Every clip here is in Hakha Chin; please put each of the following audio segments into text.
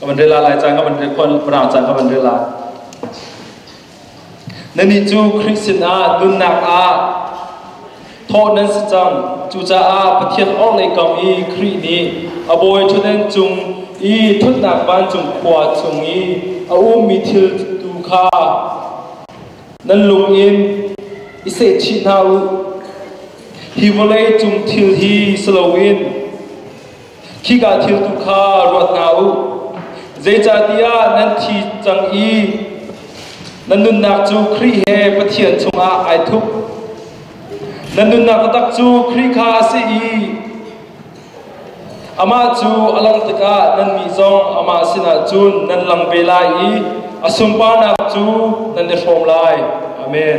ka van rel lai caan ka van rel rang caan ka van rel lai nannih cu Khrist sinah nunnak ah thawh nan si cang cucaah Pathian orhlei kam i Khrih nih a bawi ṭhutden cung i thutnak vancung khua chung i a ummi thil tu kha nan lung in i sehchih hna u hi vawlei cung thil hi si loin Khika thil tu kha ruat hna u. Zeicahtiah nan thi cang i na nunnak cu Khrih he Pathian chungah ai thup. Na nunnak taktak cu Khrih kha a si i amah cu a langh tikah nannih zong amah sinah cun nan lang ve lai i a sunparnak cu nan i hrawm lai. Amen.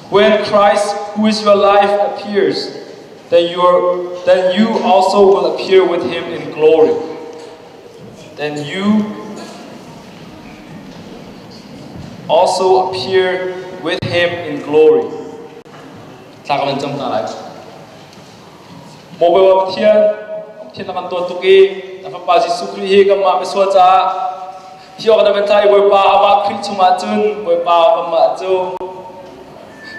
When Christ, who is your life, appears, then, your, then you also will appear with him in glory. Then you also appear with him in glory. Thla ka van cam ta lai. Mobile Pathian, Pathian na kan to tuk i, na Fapa Jesuh Khrih hi kan mah besua ca Hi awk na va tlai Bawipa a va Khrih chungah cun Bawipa amah cu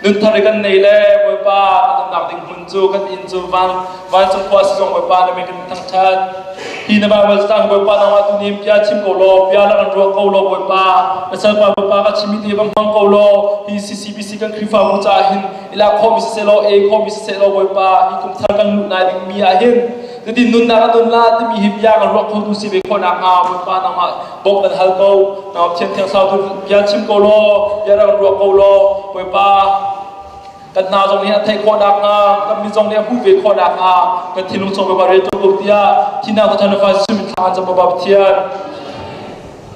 nun thar i kan nei le Bawipa nunnak ding hmun cu kan inn cu van vancung khua si zong Bawipa na me kan thangṭhat hi na Bible stand Bawipa nang ah tu nim bia chim ko law bia lang an ruah ko law Bawipa na salpa Bawipa ka chim ti bang hmang ko law hi CCBC kan Khrihfabu caah hin ila khawmi siseh law e khawmi siseh law Bawipa hi kum thar kan luh nai ding mi ah hin Nan in nunnak a nun la timi hi bia ka ruah khotu si ve khawhnak hnga Bawipa nangmah bawmh nan hal ko nangmah thiamthiang sau tu bia chim ko law bia rak ruah ko law Bawipa kan hna zong nih a theih khawhnak hnga kan mi zong nih a hmuh ve khawhnak hnga kan thinlung chung Bawipa rel tuk ko tiah thinang thawthan fa Jesuh min thla an zam Bawipa Pathian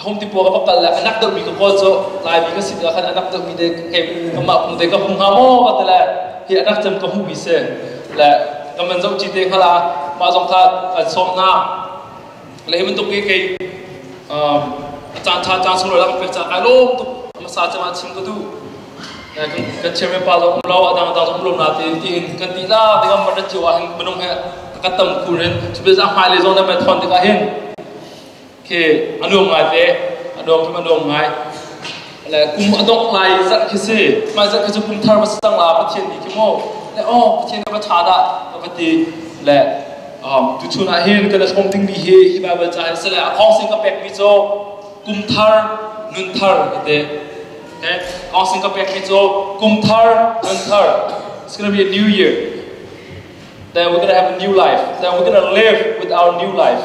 home ti puak a pakal le a nak deuhmi ka kawl cu laimi ka si tikah khan a nak deuhmi te kei kanmah pum te ka hung hnga maw ka ti le hi a nak cem ka hmuhmi si le kan man zoh ci te hngal a mah zong tha kan sawm hna le hi bantuk i kei a caan tha caan sung lang pek ca kai lom tuk ama sa cama chim ka du kan chairman pa zong lo adang adang zong lom na te tiin kan ti la dingam man rat jiwa hin minung he ka tam kun in chubel za hmai le zong na men thon tikah hin khi a nuam ngai te a nuam tum a nuam ngai le kum a dongh lai zat khi si mai zat khi cu phung thar va stang la pathian ni khi mo le o pathian ka va tha da ka va ti le tu chun ah hin ka la thong ding mi hi hi bible ca hi sele a thong sin ka pek mi cho kum thar nun thar te ne thong sin ka pek mi cho kum thar nun thar it's going to be a new year then we're going to have a new life then we're going to live with our new life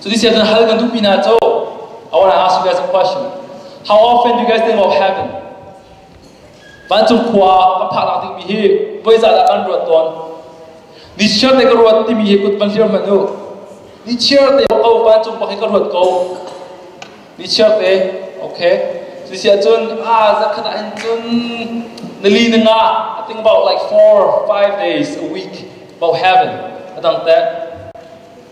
So this year then hal kan duh pina cho. I want to ask you guys a question. How often do you guys think of heaven? Vancung khua a phak lak ding mi hi voi za da kan ruat ton. Ni chiar te ka ruat ti mi hi kut van hlir man u. Ni chiar te ko vancung pak hi ka ruat ko. Ni chiar te okay. So this year cun ah zakhat ah in cun nali na nga I think about like four five days a week about heaven. Adang te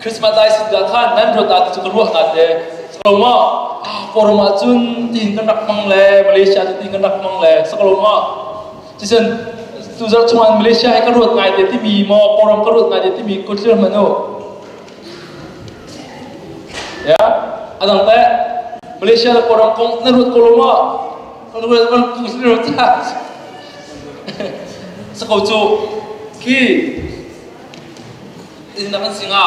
Christmas dai sin da khan nan rot ah cu ka ruah nga te saklom ah forum ah cun tiin kan rak mang le Malaysia tu tiin kan rak mang le saklom ah cisen tu zar chuan Malaysia hi ka ruat ngai te timi mo forum ka ruat ngai te timi ko thlir manu ya adang te Malaysia da forum kong nan ruat ko lo ma kan ruat kan tu thlir ta sako chu ki Innang an si nga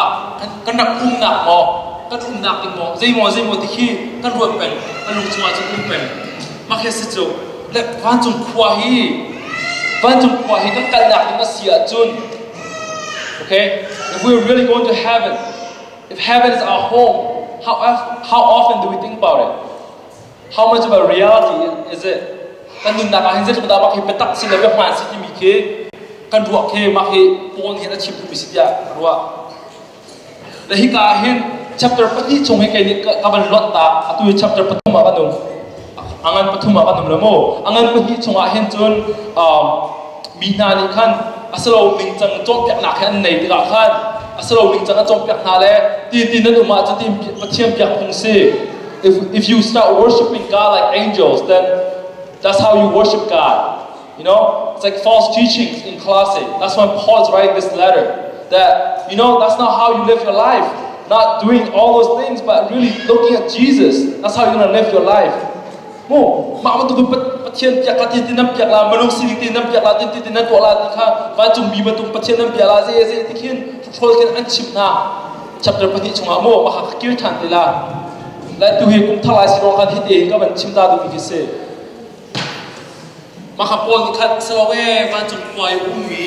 kan rak umnak maw kan umnak ding maw zeimaw zeimaw ti khi kan ruat peng kan lung chungah cun um peng mah khi si cu le vancung khua hi vancung khua hi kan kalnak ding a si ahcun okay if we really go to heaven if heaven is our home how, how often do we think about it How much of a reality is it? Kan nunnak ah hin zeitluk dah mah khi biatak si le biahman si timi khi kan ruah khi mah hi Paul hin a chim tu mi si tiah ka ruah. Le hika ah hin chapter pahnih chung hi kei nih ka, ka van lonh ta atu hi chapter pathum ah van um angan pathum ah van um le mu angan pahnih chungah hin cun um, mi hna nih khan a silo ning cang cawnpiaknak hi an nei tikah khan a silo ning cang a cawnpiak hna le ti ti nan um ah cu ti Pathian biak phung si if, if you start worshiping God like angels, then that's how you worship God. You know, it's like false teachings in Colossae. That's why Paul is writing this letter that, you know, that's not how you live your life. Not doing all those things, but really looking at Jesus. That's how you're going to live your life. Mu, mak ma tu pathian piak la tin tinam piak la manung sini tinam piak la tin tin nan tuah la ti kha vancung bi matung pathian nan bia la ze ze ti khin patrol kin an chim na chapter pahnih chungah maw a ha kir than ti la lai tu hi kum thar lai si rong khan hite hi ka van chim ta duh mi khi si maka paul nih khan sawng e vancung puai um mi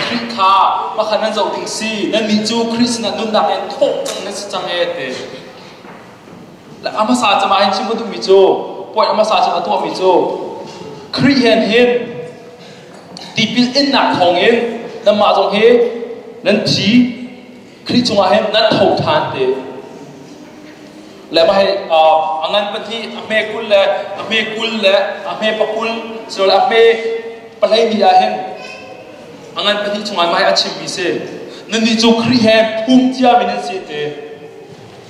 khrih kha maka nan zoh ding si nan nih cu khrist na nunnak in thawh cang na si cang e te la amasa chama hin chim duh mi cu poi amasa chama tu mi cu khrih hen hin tipil in nak thawng in nan mah zong hi nan thi Khrih cungah hin nan tho ṭhan te. Le mah hi a ngan pahnih a hme kul le a hme kul le a hme pakul silo a hme palei ni ah hin a ngan pahnih cungah mai a chimmi si. Nannih cu Khrih he phum ciami nan si te.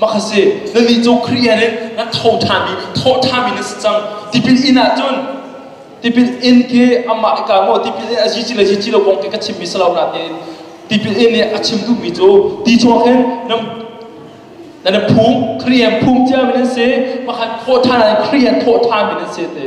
Maka si nannih cu Korea nih na tho ṭhanmi tho ṭhami na si cang tipil inn ahcun tipil inn ke amah ka maw tipil inn a zici le zici lo kong ke ka chimmi si lo nain tipil inn nih a chim duhmi cu ti chuak in nan nan phum Korean phum ciami nan si makhan tho ṭhan ah Korean tho ṭhami nan si te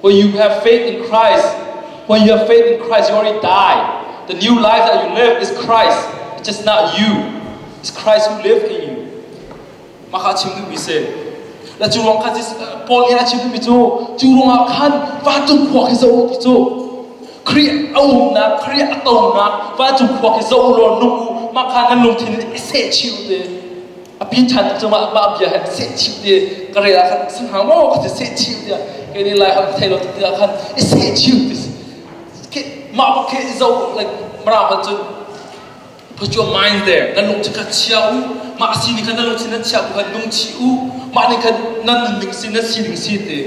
When you have faith in Christ, when you have faith in Christ, you already died. The new life that you live is Christ. It's just not you. It's Christ who lives in you. Maka chim duhmi se. La cu ruang khan Paul in a chim duhmi cu cu ruangah khan vancung khua khi zoh ti cu Khrih a umnak Khrih a tonak vancung khua khi zoh law nung u maka nan lungthin se chiu te a pin ṭhan tuk cungah mah bia he seh chim ti ka rel ah khan si hnga maw ka ti seh chim tiah kei nih lai ham thei lo ti ah khan i seh chim ti mah bak khe i zo like mram an cun put your mind there kan lung cu ka chia u mah si ni khan na lung sin na chia u kan nung chi u mah ni khan nan nun ning sin na si ning si te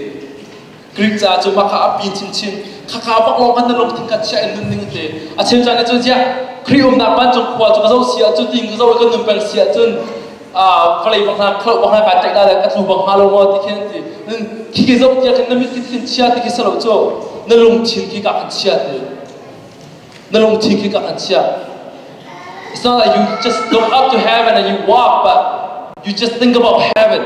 Greek ca cu maka a pi chinchin khakha pak lawng han na lung thing ka chia in nun ning te a chem chan cun sia Kri umnak vancung khua cu ka zo sia cu ting ka zo ka nun pel sia cun vale bang na khlo bang na ka tek da le ka tlu bang ha lo ngo ti khin ti nun khi ke zo tia kan na mit thin chia ti ki salo chu na lung chin ki ka kan chia ti na lung chin ki ka kan chia It's not that you just don't have to have and then you walk, but you just think about heaven.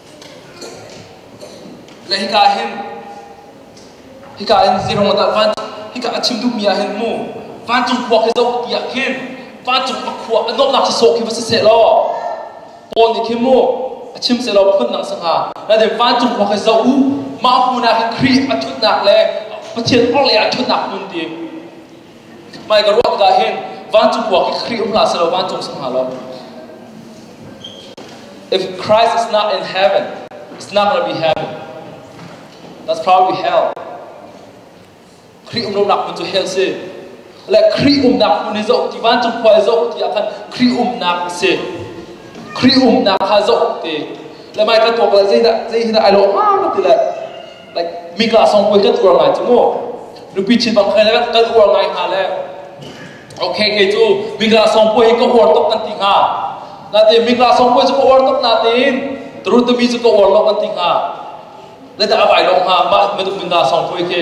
Le hika hin hika in zeirong dah van hika a chim duhmi ah hin mu vancung khua khi zoh ti ah hin vancung a khua a nawhnak cu sawh khi va si seh law Paul nih khin mu a chim seh law phundang sangha naite vancung khua khi zoh u mah hmun ah hin Khrih a thutnak le Pathian orhlei ah a thutnak hmun ti Pai ka ruak ka hin vancung kuak i Khrih um la se lo vancung sang ha lo. If Christ is not in heaven, it's not going to be heaven. That's probably hell. Khrih um lo nak mun cu hell si. Le Khrih um nak mun zo ti vancung khua zo ti akhan Khrih um nak si. Khrih um nak ha zo ti. Le mai ka to bal zei da zei hina ai lo ma lo ti le like mika song kul kan uar ngai cu mu nupi chin bang khai le kan uar ngai hna le okay kei cu mika song pui hi ka uar tuk kan ti hnga nate mika song pui cu ka uar tuk na tin terun tami cu ka uar lo kan ti hnga le ta avai long ha ma maduk minda song pui khi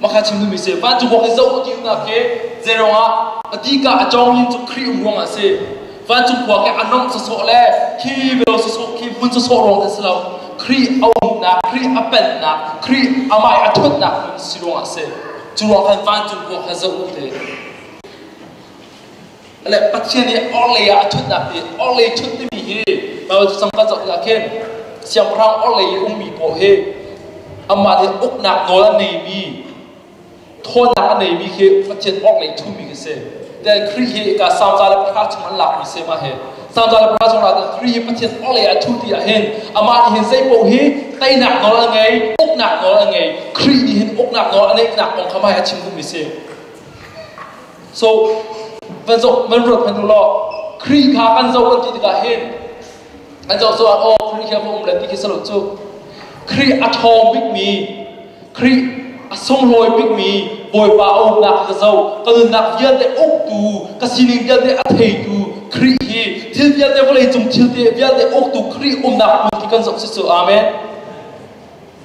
Mah kha chim duhmi a si. Van cu Bawi zoh ti umnak khi zeiruang ah a dika a cawng hi cu Khrih um ruangah a si. Vancung khua ke a nomh sawsawh le khi bialau sawsawh khi hmun sawsawh ruang an si lo. Khrih a umnak, Khrih a pennak, Khrih amai a ṭhutnak hmun si ruangah a si. Cu ruang khan vancung khua kha zoh u ti. le Pathian i orhlei ah a ṭhutnak hi orhlei ṭhut timi hi Baibal cu sangka zoh tikah khin siangpahrang orhlei i ummi paoh hi amah nih uknak nawl a neimi thawnnak a neimi khi Pathian orhlei ṭhumi khi si tiin Khrih hi ka salza le para chung an lakmi se mah hi salza le para chung lakah Khrih hi Pathian orhlei a ṭhuti ah hin amah nih hin zeipaoh hi teinak nawl a ngei uknak nawl a ngei Khrih nih hin uknak nawl a neihnak kong kha mai a chim duhmi si So, van zoh, van ruat hman u law, Khrih kha kan zoh an ti tikah hin, an zoh cu ah, oh, Khrih khi a um le ti khi salut cu, Khrih a ṭhawng bikmi, Khrih a sunglawi bikmi Bawipa a umnak ka zo, ka nunnak vialte uktu, ka sining vialte a theitu Khrih hi, thil vialte vawlei cung thil te vialte uktu Khrih umnak hmun khi kan zoh si cu, Amen.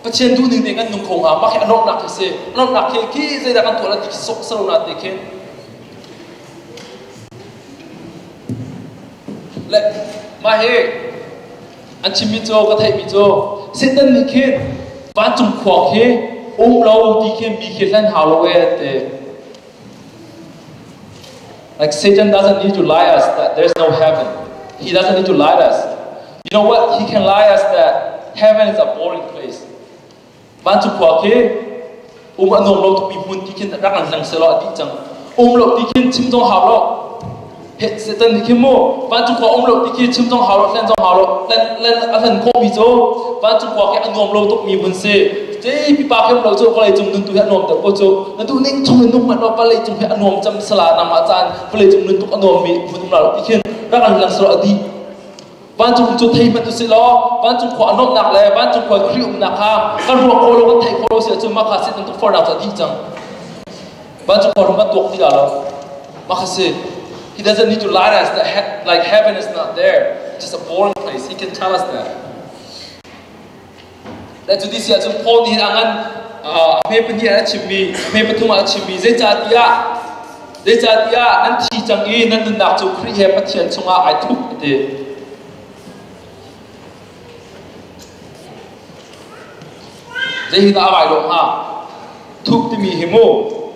Pathian duhning nih kan nungkung ah mah hi a lawmhnak hi si lawmhnak hi khi zeidah kan tuah na ti khi sok sarona te khin le mah hi an chimmi cu ka theihmi cu Satan nih khin vancung khuang hi um lo ti khin mi khi hlen hau lo e an ti Like Satan doesn't need to lie us that there's no heaven. He doesn't need to lie us. You know what? He can lie us that heaven is a boring place. Van cu khua khi um anom lo tu mi hmun ti khin rak an lang se lo ati chang um lo ti khin chim jong hau lo phet setan ni khi mu van cu khua um lo ti khi chim jong hau lo hlen jong hau lo len len a hlen khawh mi cu van cu khua ke a nuam lo tuk mi mun si te pipa kem lo cu palai cung nun tu hi a nuam tuk ko cu na tu ning chung in nuk mat lo palai cung hi a nuam cham sala na ma chan palai cung nun tuk a nuam mi mun la ti khin rak an lang so adi Vancung cu thei hmanh usih law vancung khua a nuamhnak le vancung khua khuhri umnak kha kan ruah khawh lo kan theih khawh lo si ahcun mah kha sin tukforhnak cu a dih cang vancung khua rum a tuak ti lo mah kha si He doesn't need to lie us that he- like heaven is not there. Just a boring place. He can tell us that. Dan cu ti siah cun Paul nih a ngan a hme pahnih ah a chimmi a hme pathum ah a chimmi zeicahtiah zeicahtiah nan thi cang i nan nunnak cu Khrih he Pathian chungah ai thup a ti. Zei hi dah a vai lo hnga? Thup timi hi mu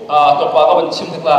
tuakpa ka van chim hnik la.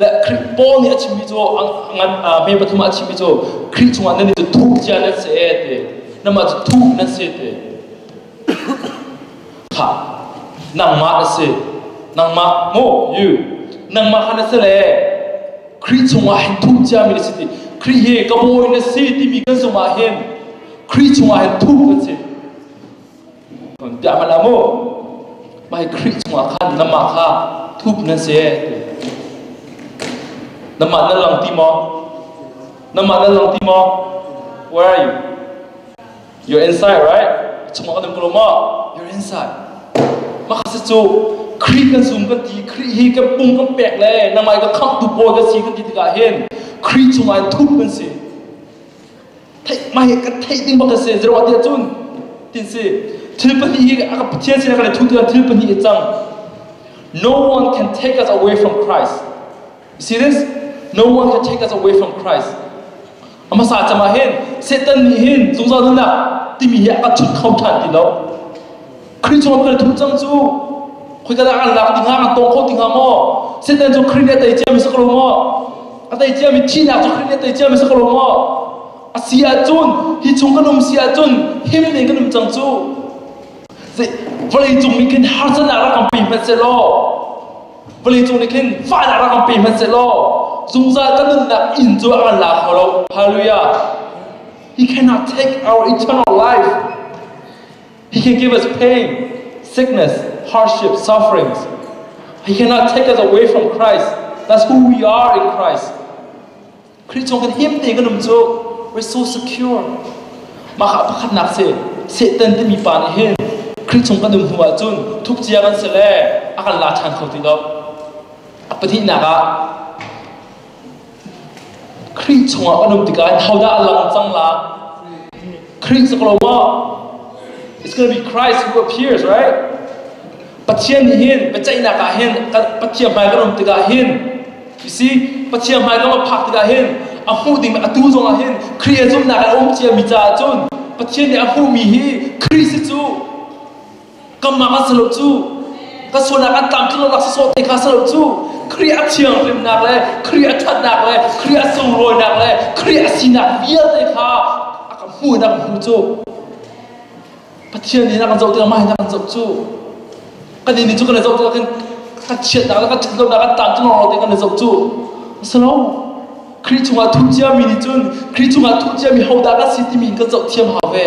Le Khrih Paul nih a chimmi cu ngan me pathum ah a chimmi cu Khrih chungah nan i cu thup cia nan si e te namah cu thup nan si te tha nangmah na si nangmah mo you nangmah kha na si le Khrih chungah hin thup ciami na si ti Khrih hi ka bawi na si timi kan zungah hin Khrih chungah hin thup kan si Kan tiah hal mu Bai Khrih chungah khan namah kha thup nan se namah nan lang ti maw namah nan lang ti maw where are you you're inside right chungah kan klo ma you're inside maka se chu Khrih kan sum kan ti Khrih hi kan pung kan pek le namai ka khang tu bo ka si kan ti tikah hin Khrih chungah thup kan si theih mai kan theih ding bak a si zeruah tiah cun tin si thil pahnih hi a pathian sin a kan i thutu thil pahnih i cang no one can take us away from Christ you see this no one can take us away from Christ a hmasa cangah hin Satan nih hin zungzal nunnak timi hi a kan chut kho ṭhan ti lo Khrih cawn na thu cang cu khoika dah an lak ti hnga an tawng kho ti hnga maw Satan cu Khrih nih a tei cia mi sak lo maw a tei cia mi thihnak cu Khrih nih a tei cia mi sak lo maw a si ahcun hi chung kan um si ahcun him ning kan um cang cu vawleicung nih khin harsanak rak kan pe hmanh se law vawleicung nih khin fahnak rak kan pe hmanh se law zungzal kan nunnak inn cu an la kho lo hallelujah he cannot take our eternal life He gave us pain, sickness, hardship, sufferings. He cannot take us away from Christ. That's who we are in Christ. Khrih cung kan him te kan um cu we're so secure. Mah kha pakhatnak se Satan timi pa nih hin Khrih cung kan um hnu ah cun thukcia kan se le a kan la ṭhan kho ti lo. A pahnihnak ah Khrih chungah an um tikah in hodah a lang cang la? Khrih is lo maw? It's going to be Christ who appears, right? Pathian nih hin biaceihnak ah hin Pathian hmai kan um tikah hin you see Pathian hmai lawng a phak tikah hin a hmuh ding atu zongah hin Khrih a zumhnak a um ciami caah cun Pathian nih a hmuhmi hi Khrist cu kanmah ah silo cu kan sualnak an tlam tlunak sawh te kha silo cu Khrih a thianghlimnak le Khrih a thatnak le Khrih a sunglawinak le Khrih a sinak vialte kha a kan hmuh in a kan hmu cu Pathian nih na kan zoh tikah mah in na kan zoh cu kan nih cu kan i zoh tikah kan kan chiatnak le kan thatlonak an tlam tlunak te kan i zoh cu silo Khrih cungah thuh ciami nih cun Khrih cungah thuh ciami hodah kan si timi in kan zoh thiam hau ve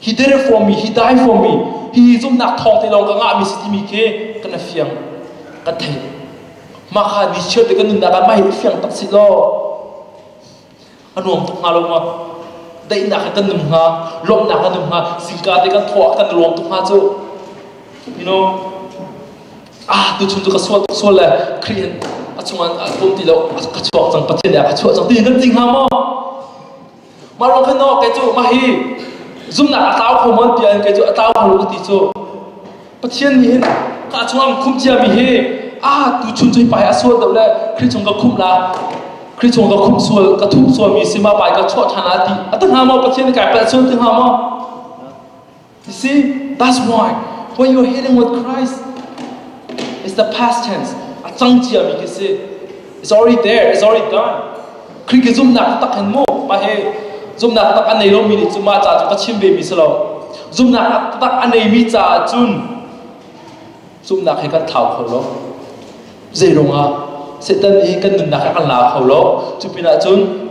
hi dere formi hi dai formi hi zumhnak thawng te lo ka ngahmi si timi khi ka na fiang ka thei mah kha ni chiat le ka nunnak ah mai fiang tak si lo a nuam tuk nga lo ma daihnak kan num nga lawmhnak kan num nga singka te kan thawh kan ruang tuk nga cu you know ah tu chung tu ka sual tuk sual le kri a chungan a pum ti lo ka chuak cang pathian ya ka chuah cang ti kan ting ha mo Marlokin aw ke cu mah hi zumnak a tlau kho mon tiah ke cu a tlau kho ka ti cu Pathian nih hin ka chungam khum cia mi hi a tu chun chui pai a sual deuh le Kri chung ka khum la Kri chung ka khum sual ka thup sual mi si ma pai ka chuah ṭhan a ti a ti hnga maw Pathian i kai palh sual ti hnga maw You see, that's why when you're healing with Christ, it's the past tense. A cang cia mi khi si. It's already there, it's already done. Khin ke zumnak tak hin mo ma he zumnak tak an nei lo mi ni chu ma cha chu ka chim ve mi si lo. Zumnak tak an nei mi cha chun zumnak he kan thau kho lo. Zeirong ah Satan hi kan nunnak he kan la kho lo. Cu pinah cun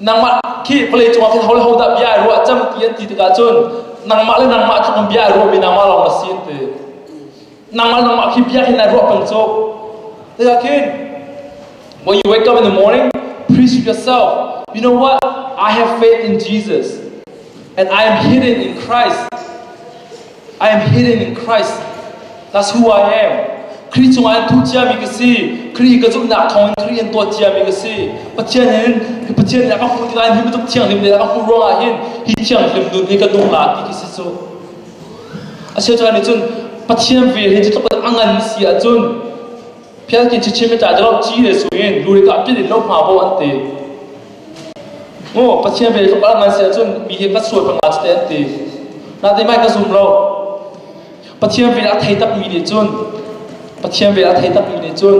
nangmah khi vawlei cungah khin ho le ho dah bia ai ruah cang ti an ti tikah cun nangmah le nangmah cu kan bia ai ruahmi nangmah lawng na si an ti nangmah nangmah khi bia khin ai ruah peng cu tikah khin when you wake up in the morning please yourself you know what I have faith in Jesus and I am hidden in Christ I am healing in Christ. That's who I am. Kri cungah in thu ciami ka si. Kri ka zumhnak thawngin Kri in tuah ciami ka si. Pathian in Pathian nih a ka hmuh tikah hi bantuk thianghlim le a ka hmuh ruangah hin hi thianghlim nun hi ka nu a ti ki si cu. Asiachan nih cun Pathian vel hi cu tluk a ngan si ahcun Phialkin chichim ta dalo chi le suin luri ka pin in lo hma bo an ti. Maw Pathian ve tluk ah ngan si ahcun mi hi ka sual panga cu te an ti. Na te mai ka zum lo. Pathian vel a thei takmi nih cun Pathian vel a thei takmi nih cun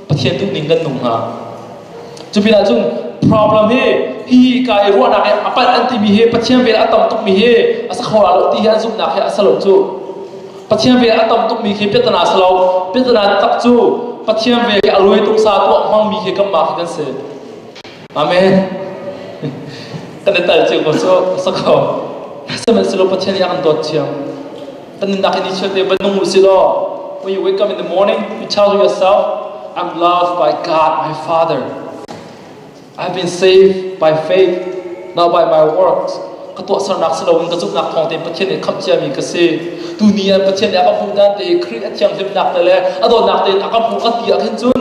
Pathian duhning kan nung hna. Cu pinah cun problem hi hi ka i ruahnak hi a palh an timi hi Pathian vel a tam tukmi hi a sa khawra lo ti hi an zumhnak hi a sa lo cu. Pathian vel a tam tukmi khi piatana sa lo. Piatana taktak cu Pathian vel hi a ruai tuk sa tuah hmangmi hi kanmah khi kan si. Amen. Kan i tel cio ko cu sa kho. Sihmanhsehlaw Pathian nih a kan dawt cio. Kan nunnak in i chiate ba nung u si law when you wake up in the morning you tell yourself I'm loved by God my Father. I've been saved by faith not by my works. Ka tuahsernak si loin ka zumhnak thawngte in Pathian nih khamh ciami ka si. Tu ni ah Pathian nih a ka hmuh dan te i Khrih a thianghlimnak te le a dawtnak te in a ka hmuh ka ti ah khin cun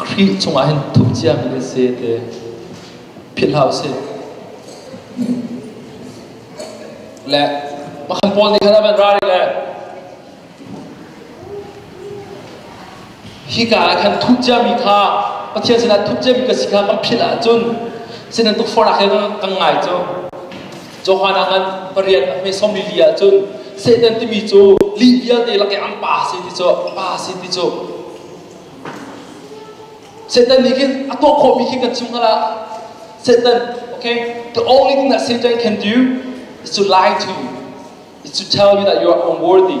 A hrih chungah hin thup ciami na se te philh hlah usih. Le makhan pawl nih khan a van ra i le hika ah khan thup ciami kha Pathian sinah thup ciami ka si kha kan philh ahcun sinan tukforh ah khin kan ngai cu. Johan ah khan pariat a hme som lili ahcun Satan timi cu li vialte lak i an pa si ti cu pa si ti cu Satan nih khin a tuah khawhmi khi kan chung ah Satan okay the only thing that Satan can do is to lie to is to tell you that you are unworthy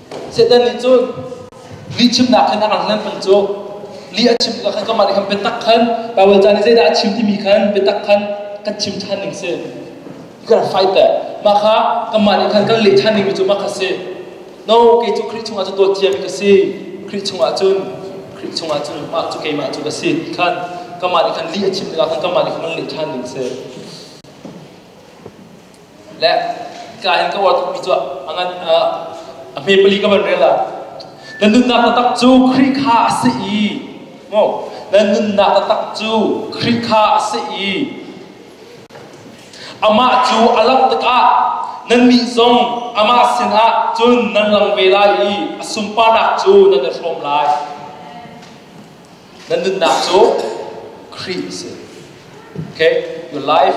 Satan nih cun li chimnak khan a ang lengmang cu li a chim ka khan kamah nih khan biatak khan Paul caan i zeidah a chim timi khan biatak khan kan chim ṭhan ning si you can fight that mah kha kanmah nih khan kan leh ṭhan dingmi cu mah kha si no kei cu Khrih chungah cu dawt ciami ka si Khrih chungah cun Khrih chungah cun mah cu keimah cu ka si ti khan kanmah nih khan li a chim tikah khan kanmah nih khan kan leh ṭhan ding si le ka hin ka war tuk cuah angan a hme pali ka van rel a na nunnak taktak cu Khrih kha a si i mo na nunnak taktak cu Khrih kha a si i amah cu a langh tikah nannih zong amah sinah cun nan lang ve lai i a sunparnak cu nan i hrawm lai Nan nunnak cu Khrih a si. Okay, your life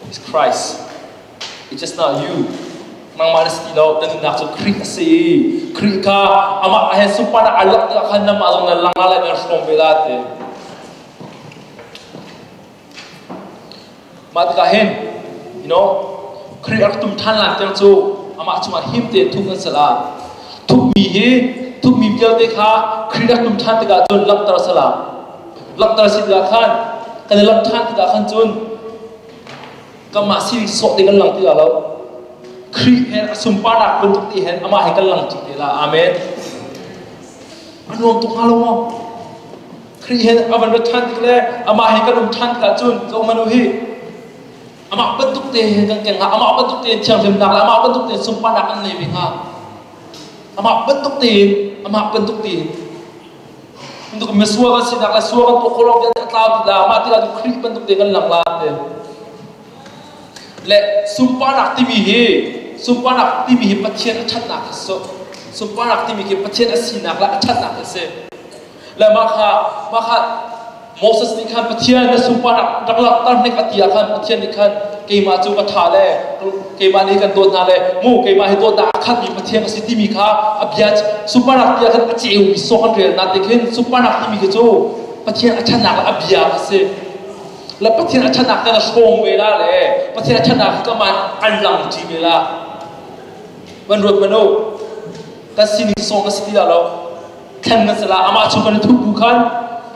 is Christ. It's just not you. Nangmah na si ti lo. Na nunnak cu Khrih a si. Khrih kha amah he supan ah a langhter khan namah zong na lang lai lai na hrawm ve lai te. Mah tikah hin you know Khrih a rak tum ṭhan lai tiang cu amah cungah him tein thup nan sal ah thupmi hi thupmi vialte kha Khrih rak tum ṭhan tikah cun langhter a si la. Langhter a si tikah khan kan i langh ṭhan tikah khan cun kanmah sining sawh te kan lang ti la lo. Khrih he a sunparnak bantuk ti hen amah he kan lang ṭi te la. Amen. A nuam tuk hnga lo maw? Khrih he a van rat ṭhan tik le amah he kan um ṭhan tik ahcun zohhmanh u hi amah bantuk te he kan keng hna amah bantuk te thianghlimnak le amah bantuk te sunparnak kan ngei ve hnga amah bantuk tein amah bantuk tein bantuk misual kan sinak le sual kan tuah khawh lo vialte a tlau ti la mah tikah Khrih bantuk te kan lang la te le sunparnak timi hi sunparnak timi hi Pathian a ṭhatnak a si sunparnak timi khi Pathian a sinak le a ṭhatnak a si le mah kha mah kha Moses nih khan Pathian na supa rak langhter hnik a ti ah khan Pathian nih khan keimah cu ka ṭha le keimah nih kan dawt hna le mu keimah hi dawtnak a khatmi Pathian a si timi kha a bia suparak ti ah khan a ceumi sawk an relnak te khin suparak timi khi cu Pathian a ṭhatnak le a bia a si le Pathian a ṭhatnak te na hrawng ve la le Pathian a ṭhatnak hi kaman an lang ṭi ve la man ruat manu kan sining sawng a si ti la lo then na sala amah chung kan thup bu khan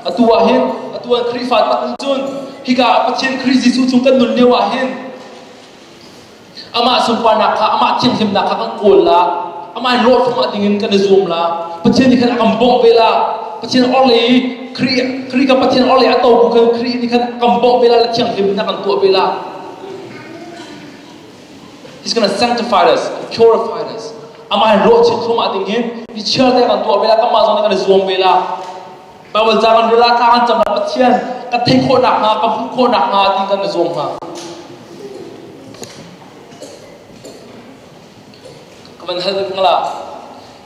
atu ah hin atu ah Khrihfa tak in cun hika Pathian Khrih Jesuh chung kan nun lio ah hin amah sunparnak kha amah thianghlimnak kha kan kawl la amah in rawh chungah dingin kan i zuam la Pathian nih khan a kan bawmh ve la Pathian orhlei i Khrih Khrih ka Pathian orhlei a to bu khan Khrih nih khan a kan bawmh ve la le thianghlim in a kan tuah ve la He's going to sanctify us, purify us. Amah in ruah chit khuma ding in mi chiar te kan tuah vela kanmah zong nih kan i zuam vela. Bible ca kan rela ta kan cam Pathian ka thei khawh nak hnga ka hmuh khawh nak hnga ti kan i zuam hna. Ka van hal ngala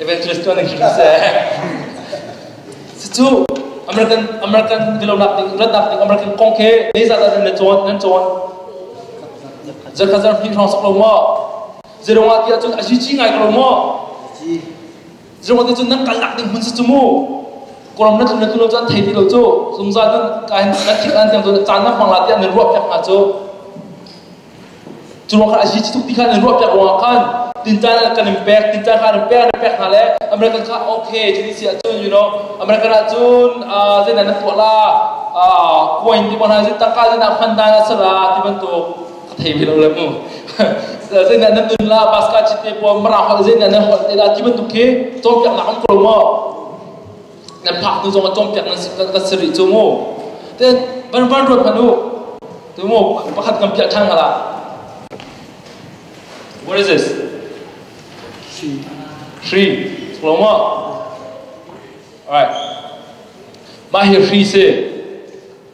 Evangelist tuan an khim seh. Cucu American American dilonak ding rannak ding American kong khi ni zat an le cawn nan cawn. Zakhat zan hin hrong sak lo mo. Zerong ah tiah cun a zici ngai ko mo. Zerong ah cun nan kal lak ding hun si cumu. Koram na tlun na tlun cun thei ti lo cu. Zungzal nan kain nan thik an tiang cun caan na hmang la tiang nan ruah pek hna cu. Curuang kha a si tuk ti khan an ruah piak ruangah khan tintan kan in pek tintan kha an pek an pek hna le American kha okay cun si ahcun you know American ahcun zeinan nan tuah la coin ti hna zin tangka zin ah hman dan a sara ti bantuk ka thei ve lo le mu zeinan nan nun la basket cit te puam mara hol zeinan nan hol te la ti bantuk khi cawn piak la am ko mo nan phak hnu zong a cawmpiak nan kan si rih cu mu te van van ruat hman u tu mu pakhat kan piah ṭhan hala what is this three chlomo alright mah hi hri si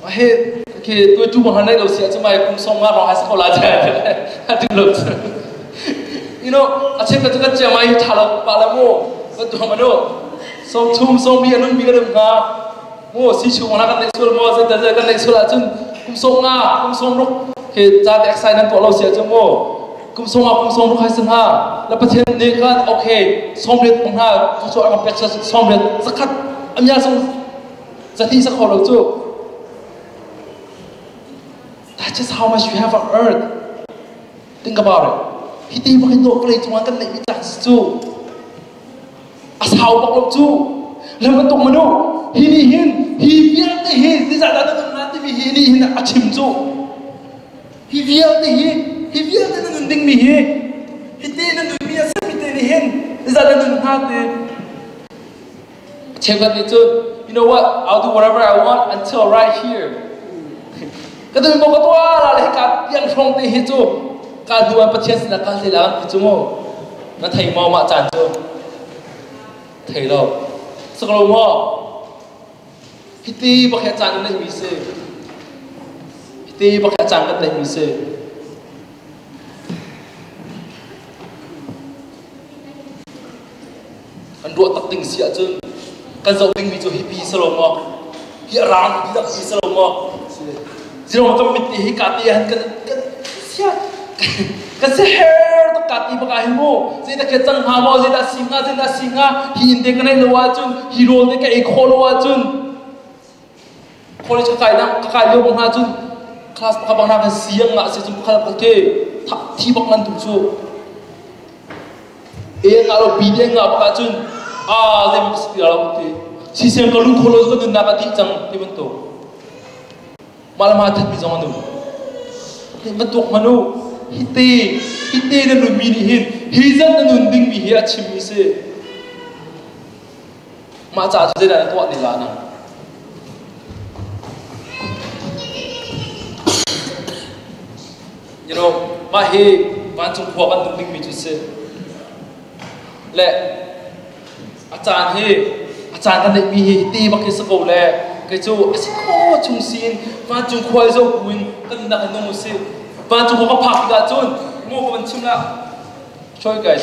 Ohe, okay, tu tu mahar nai lo sia chu mai kum song ma rong hai ko la je. A ding lo. You know, a chen ka tu ka chia mai tha lo pa la mo. Ba tu hama no. Som chung som bi anun bi kadam nga. Mo si chu mana kan nei sul mo ze ta ze kan nei sul a chun kum song nga kum song ruk ke cha te exercise nan to lo sia chu mo. Kum song nga kum song ruk hai san ha. La pathen ne ka okay, som ret pong ha. Tu so am pek sa som ret zakat amya song Catin sakhor lo cu. That's just how much you have on earth. Think about it. Hi ti makin do play chunga kan lei chance cu. A sau bak lo cu. Lam tok manu. Hi ni hin hi vialte hi this are the nga ti mi hi ni hin a chim cu. Hi vialte hi hi vialte na nun ding mi hi hi ti na nun mi a sami te ni hin this are the nga te Chekhlat nih cun, you know what, I'll do whatever I want until right here. Ka ding mo ka tuah la le ka yang hrong te hi cu ka hnu an Pathian sinah ka hle la an ti cung na thei mo ma chan cu thei lo sak lo mo hiti pakhat chan na mi se hiti pakhat chan na mi se Kan ruah tak ding si ahcun kan zoh dingmi cu hipi si lo maw, hi a rang ti tak si si lo maw. Zero kan mit te hi ka te han kan kan sia kan se her tak ka ti baka hi mu zei ta ke cang hnga maw zei ta si hnga zei ta si hnga hi in te kan ei lo ahcun hi rawl te ka ei khawh lo ahcun college ka kai ka kai lio hna cun class pakhat bak nakin siang nga se cun pakhat bak te thi bak nan tum cu e nga lo bi de nga bak cun a le ma si lo te si sem ka lu tholo zo nun na ka ti chang ti ban to malam ha that mi zong anu nga tok manu hite hite na nun mi ni hin hi zan na nun ding mi hi a chim mi se Mah caah cu zeidah na tuah ti hlah na. You know, mah hi vancung khua kan tuk dingmi cu si. Le a caan hi a caan kan neihmi hi ti bak hi si ko le kei cu a si kho chung siin vancung khual zo buin kan nak a nung si. Vancung khua kan phak tikah cun ngo kan chim la. Show you guys.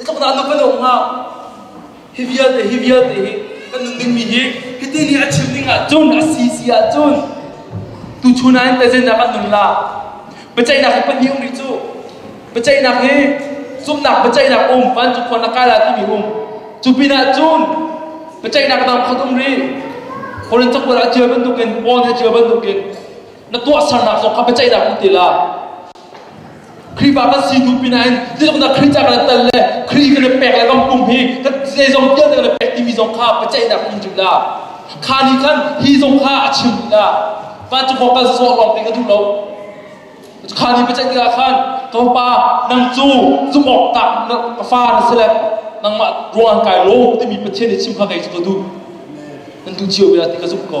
Itlok na tuk padong ha. Hi vialte hi vialte hi kan nun ding mi hi hiti ni a chim ding ah cun a si si ah cun tu chuna in tezennak an nun la biaceihnak hi pahnih um ri cu biaceihnak hi zumnak biaceihnak um vancung khuan la kai la ti mi um cu pin ah cun biaceihnak dang khat um ri Korin chokbal a cia bantukin Paul hi a cia bantukin na tuah sernak zong kha biaceihnak um te la Khrihfa kan si hnu pinain zeitluknak Khrih ca kan tat le Khrih kan pek le ram pum hi zeizong tial kan pek timi zong kha biaceihnak in chim la kha nih khan hi zong kha a chim la vancung kan zawh lawng te ka duh lo kha ni biaceih tikah khan ka pa nang cu zumawk tak ka fa na si le nangmah ruang kai lo timi pathian nih chim kha kei cu ka duh nan tu cio bia ti ka zumh ko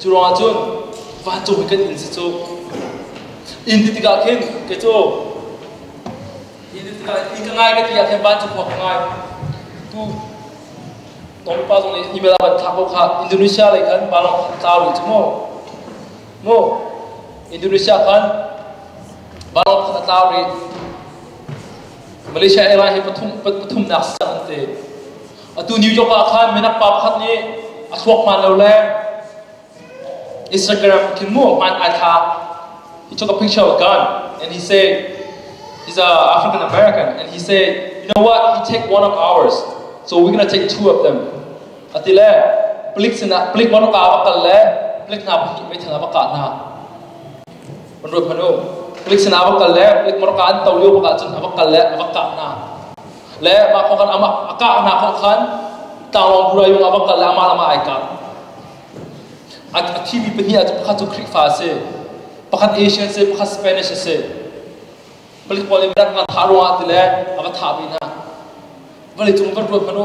Cu ruangah cun vancung hi kan inn si cu. Inn ti tikah khin kei cu inn ti tikah inn ka ngai ka ti ah khin vancung khua ka ngai. Tu na upa zong nih email ah van thlak ko kha Indonesia lei khan vanlawng khan tla rih cu mu. Mu Indonesia khan vanlawng khan a tla rih. Malaysia airline hi pathum pathumnak si cang an ti. Atu New York ah khan minak pa pakhat nih a thuak hman lo le Instagram khin mu man ai tha he took a picture with gun and he said he's a African American and he said you know what he take one of ours so we're gonna take two of them a ti le palik sinah palik man ka ba kal le palik na ba ki mai thana ba ka na man ro phanu palik sinah ba kal le palik man ka an tawliu ba ka chun ba kal le ba ka na le mah kong khan amah a kahnak kong khan tlanglawn burai yung abang kal le amah lamah ai kah a thimi pahnih ah pakhat cu Khrihfa a si pakhat Asian a si pakhat Spanish a si palik pawl in rak nga thah ruang ah ti le a va thah ve hna vawlei cung van ruat hmanu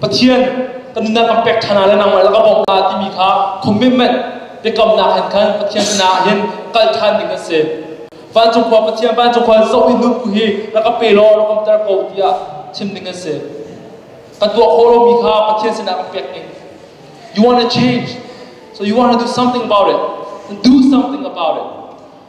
Pathian ka nunnak kan pek ṭhan ah le nangmah lak a bawmh hna timi kha commitment biakamnak hin khan Pathian sinah hin kal ṭhan ding an si. Vancung khua Pathian vancung khua zoh i nunku hi rak ka pe law rak kamter ko tiah chim ding an si. Kan tuah khawh lomi kha Pathian sinah kan pek ding. You want to change, so you want to do something about it, then do something about it.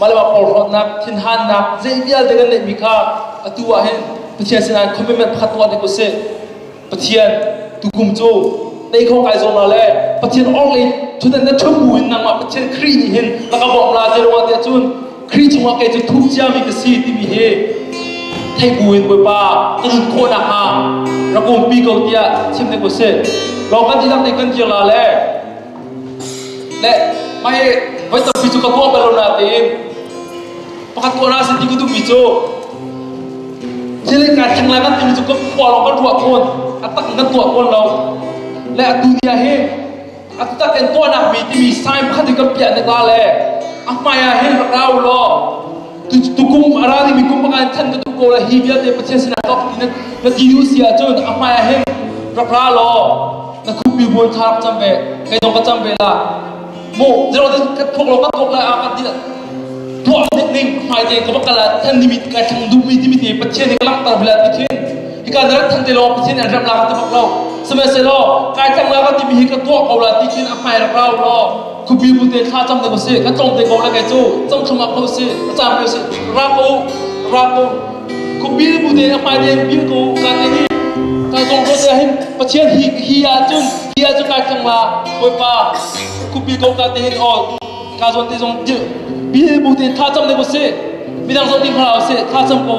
Mah porhlawtnak thinhannak zei vialte kan neihmi kha atu ah hin Pathian sinah commitment pakhat tuah ding usih. Pathian tukum cu nei kho kai zawm la le Pathian orhlei thutdan na thup bu in nangmah Pathian Khrih nih hin na ka bawmh la tiah ruah tiah cun Khrih chungah kei cu thup ciami ka si timi hi thei buin Bawipa na nun khawh nakhnga rak umpi ko tiah chim ding usih. Lawng kan dihlak nih kan dir la le Le mah hi voi tampi cu ka tuah bal lo nain pakhat tuahnak sin ti ka duhmi cu thilin ngai theng lai ngan timi cu kan khua lawng kan ruah fawn a tak in kan tuah fawn lo le atu dia hi a tak in tuahnak mi timi sign pakhat hi kan piah ne ta le a hmai ah hin rak ra u law tukum a rami kum pakhat in chan ka tuk ko la hi vialte Pathian sinah ka uk ti na ti duh si ahcun a hmai ah hin ka ra law na khumpi bual tha rak cam ve kei dong ka cam ve la mu zero te ka thok lo ka thok la a ka ti tuah ning ning hmai te ka bakala than nimit ka thang du mi timit ni Pathian ni lang tar bila pithin hika na than te lo Pathian an ram la ka tabak lo same se lo kai tang la ka ti mi hi ka tuah ko la ti tin a hmai rak rau lo Khupi bute thla cam ding usih. Kan tlawm te ko lengei cu. Cong thum up ko usih. A cam ko usih. Rap ko. Rap ko. Khupi bute a hmai deng bil ko. Kan deng hi. Kan zong ro te hin. Pathian hi hi ahcun hi ahcun kai thang la. Bawipa. Khupi ko ka te hin o. Ka zon te zong dil. Bil bute thla cam ding usih. Midang zong ding hla usih. Thla cam ko.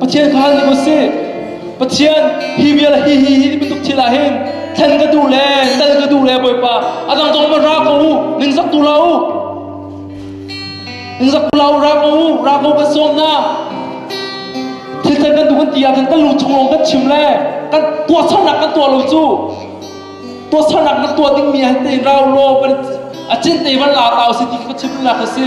Pathian kha ning usih. Pathian hi vial hi hi hi bantuk thil ah hin thlen ka duh le tal ka duh le Bawipa a dang zong ma ra ko u ningzak tu la u ningzak tu la u ra ko u ra ko kan sawm na thil thlen kan duh kan ti ah kan kan lu chung lawng kan chim le kan tuah saunak kan tuah lo cu tuah saunak na tuah ding mi han te in ra u law kan a cin te van la ta u si ti ka chim la ka si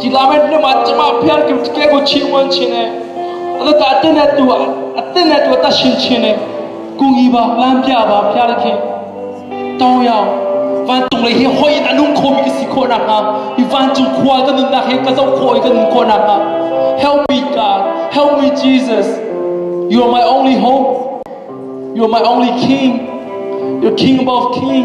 Gilamet nam ah cima phial ki ke ku chi uan chin e ata ta te ne tu te ne tu ta shin chin e kungi ba lam pya ba phial ki to yao van tung le hi hoi in anung kho mi ka si kho na ha i van cung khwal ka nun na he ka zo khoi ka nun ko na ha help me god help me jesus you are my only hope you are my only king you're king above king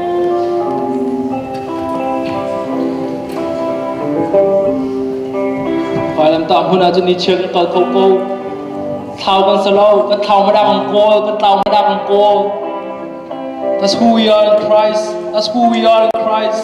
Vailamtah hmun ah cun nichiar kan kal kho ko. Thlau kan sa lo, kan thlau madak an kawl, kan tlau madak an kawl. That's who we are in Christ. That's who we are in Christ.